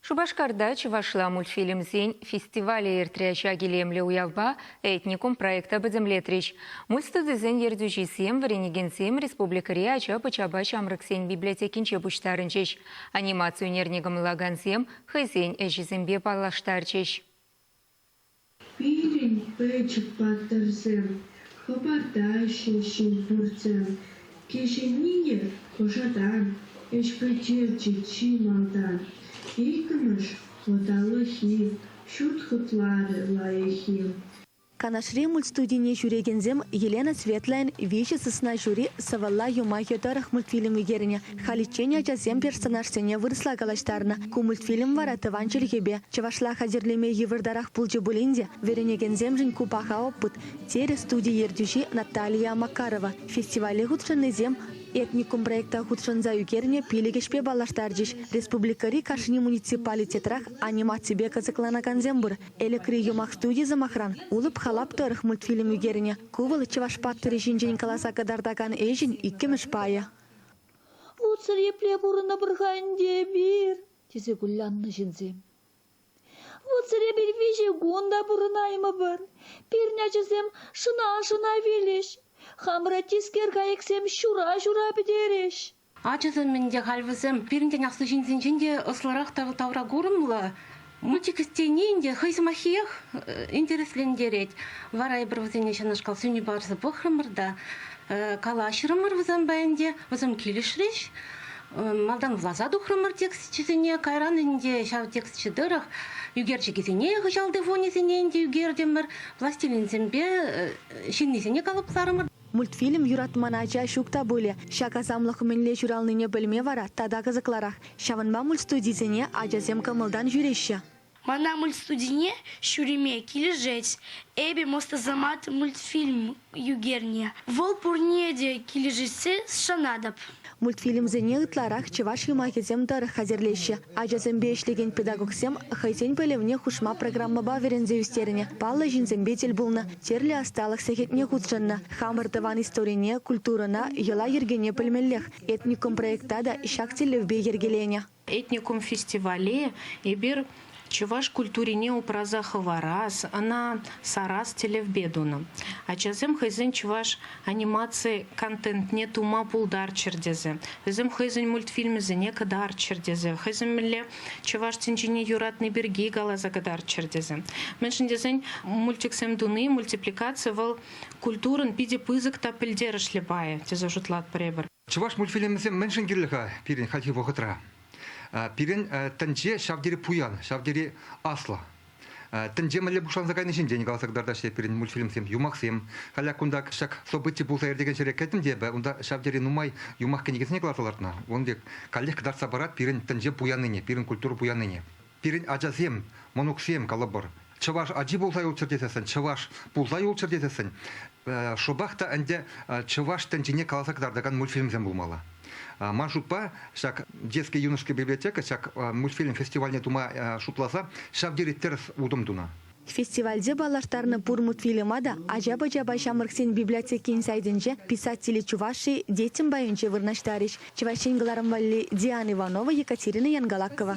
Шупашкарта чӑвашла мультфильмсен фестивалӗ иртрӗ. Ҫак илемлӗ уявпа «Этникум» проекта пӗтӗмлетрӗҫ. Мульт студисен ертӳҫисем вӗренекенсем республикӑри ача-пӑчапа ҫамрӑксен библиотекинче пуҫтарӑнчӗҫ. Анимаци ӳнерне кӑмӑллакансем хӑйсен ӗҫӗсемпе паллаштарчӗҫ. Пирӗн пӗчӗк паттӑрсем хӑпартаҫҫӗ ҫул пуртӗ. Кӗҫӗннине пӑшатан, ӗҫпе черчӗк чи малтан. Иккӗмӗш ӑталӑххи, ҫут хытлавӗ лайӑххи. Канашри мультстудине ҫӳрекенсем Елена Светлӑйӑн Виҫӗ сысна ҫури сӑвӑлла юмахӗ тӑрӑх мультфильм ӳкернӗ. Халиччен ачасем персонажсене вырӑсла калаҫтарнӑ. Ку мультфильм вара тӑван чӗлхепе, чӑвашла хатӗрлеме йывӑртарах пулчӗ пулин те, вӗренекенсемшӗн ку паха опыт, терӗ студи ертӳҫи Наталия Макарова. Фестивале хутшӑннисем этникум проекта хутшӑнса ӳкернӗ пилӗк ӗҫпе паллаштарчӗҫ. Республикӑри кашни муниципалитетрах анимаципе кӑсӑкланакансем пур. Элӗкри юмах студи, сӑмахран, Улӑп халап тӑрӑх мультфильм ӳкернӗ. Ку вӑл чӑваш паттӑрӗ ҫинчен каласа кӑтартакан ӗҫӗн иккӗмӗш пайӗ. «Лутсӑр епле пурӑнӑпӑр-ха ӗнтӗ эпир?» тесе куляннӑ ҫынсем. «Лутсӑр эпир виҫӗ кун та пурӑнаймӑпӑр. Пирӗн ачасем шӑна-шӑна вилӗҫ. Хамӑра тискер кайӑксем ҫура-ҫура пӗтерӗҫ». Ачасем ӗнтӗ халь вӗсем пирӗн тен аслӑ ҫынсенчен те ӑслӑрах тавракурӑмлӑ. Мультик тени ӗнтӗ хӑй сӑмаххиех интереслентерет. Вара эпир вӗсене ҫакнашкал сӳнӳ парса пӑхрӑмӑр та калаҫрӑмӑр вӗсемпе ӗнтӗ, вӗсем килӗшрӗҫ. Малтан власа тухрӑмӑр тексчӗсене, кайран ӗнтӗ ҫав тексчӗ тӑрӑх ӳкерчӗкӗсене, хыҫалти фонӗсене ӗнтӗ ӳкертӗмӗр, пластилинсемпе ҫыннисене калӑпларӑмӑр. Мультфильм юратман ача ҫук та пулӗ. Ҫак асамлӑх мӗнле ҫуралнине пӗлме вара тата кӑсӑкларах. Ҫавӑнпа мультстудисене ачасем кӑмӑлтан ҫӳреҫҫӗ. Мана мультстудине ҫӳреме килӗшет. Эпӗ мостасамат мультфильм ӳкерне. Вӑл пурне те килӗшессе шанатӑп. Мультфильмсене ытларах чӑваш юмахӗсем тӑрӑх хатӗрлеҫҫӗ. Ачасемпе ӗҫлекен педагогсем хӑйсен пӗлӗвне хушма программӑпа вӗренсе ӳстернӗ, паллӑ ҫынсемпе тӗл пулнӑ, тӗрлӗ ӑсталӑх сехетне хутшӑннӑ. Хамӑр тӑван историне, культурӑна, йӑла-йӗркене пӗлмеллех. Этникум проекта та ҫак тӗллевпе йӗркеленӗ. Этникум фестивале эпир чӑваш культурине упраса хӑварас, ӑна сарас тӗллевпе тунӑ. Ачасем хӑйсен чӑваш анимаци контентне тума пултарччӑр тесе, вӗсем хӑйсен мультфильмӗсене кӑтартчӑр тесе, хӑйсем мӗнле чӑваш тӗнчине юратни пирки каласа кӑтартчӑр тесе. Мӗншӗн тесен мультиксем туни, мультипликаци вӑл культурӑн питӗ пысӑк та пӗлтерӗшлӗ пайӗ тесе шутлатпӑр эпир. Чӑваш мультфильмӗсем мӗншӗн кирлӗ-ха пирӗн хальхи вӑхӑтра? Пирӗн тӗнче ҫав тери пуян, ҫав тери аслӑ. Тӗнче мӗнле пуҫланса кайни ҫинчен каласа кӑтартаҫҫӗ пирӗн мультфильмсем, юмахсем. Халӗ кунта ҫак событи пулса иртекен ҫӗре кӗтӗм те эпӗ, унта ҫав тери нумай юмах кӗнекисене кӑларса лартнӑ. Ун пек каллех кӑтартса парать пирӗн тӗнче пуяннине, пирӗн культура пуяннине. Пирӗн ачасем, мӑнуксем, калӑпӑр, чӑваш ачи пулса юлччӑр тесессӗн, чӑваш пулса юлччӑр тесессӗн, шӑпах та ӗнтӗ чӑваш тӗнчине каласа кӑтартакан мультфильмсем пулмалла. Ман шутпа, ҫак Детская юношеская библиотека ҫак мультфильм фестивальне тума шутласа ҫав тери тӗрӗс утӑм тунӑ. Фестивальте паллаштарнӑ пур мультфильма та ача-пӑчапа ҫамрӑксен библиотекин сайтӗнче писатели Чувашии детям пайӗнче вырнаҫтарӗҫ. Чӑваш Ен кӑларӑм валли Диана Иванова, Екатерина Янгалакова.